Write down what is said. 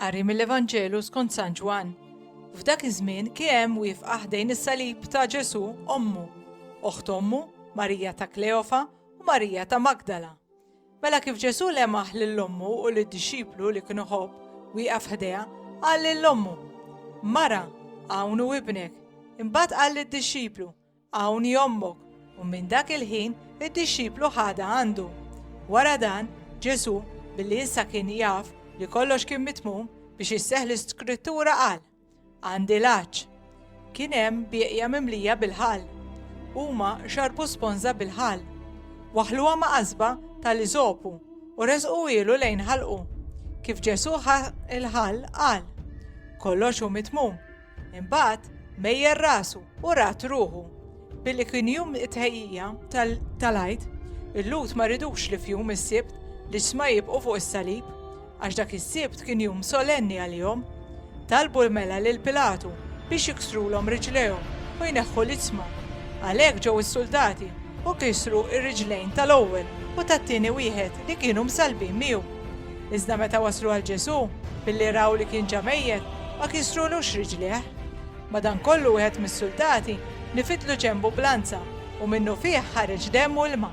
Qari mill-Evanġelu skont San Ġwann. F'dak iż-żmien kien hemm wifqa ħdejn is-salib ta' Ġesu ommu, oħt ommu, Marija ta' Kleofa u Marija ta' Magdala. Mela kif Ġesù lemaħ lil ommu u lid-dixxiplu li kien iħobb wieqaf ħdejha, qal lil ommu, Mara, hawn hu ibnek. Imbagħad qal lid-dixxiplu, Hawn hi ommok, u minn dak il-ħin id-dixxiplu ħadha għandu. Wara dan, Ġesù, billi issa kien jaf li kollox kien mitmum biex isseħħ l-Iskrittura qal, Għandi l-għatx. Kien hemm bieqja mimlija bil-ħall. Huma xarbu sponża bil-ħall. Waħħluha ma' qasba tal-iżopu u resquhielu lejn ħalqu. Kif Ġesù ħa l-ħall qal, Kollox hu mitmum. Imbagħad mejjer rasu u rat ruħu. Billi kien jum it-tħejjija tal-Għid, il-Lhud ma ridux li f'jum is-Sibt l-ġsma jibqgħu fuq is-salib. Għax dak is-Sibt kien jum solenni għalihom. Talbu l-mela lil Pilatu biex jiksrulhom riġlejhom u jneħħu l-iċma. Għalhekk ġew is-suldati u kisru r-riġlejn tal-ewwel u tat-tieni wieħed li kienu msallbin miegħu. Iżda meta waslu għal Ġesù, billi raw li kien ġa mejjet, ma kisrulux riġlejh. Madankollu wieħed mis-suldati nifidlu ġenbu b'lanza u minnufih ħareġ demm u ilma.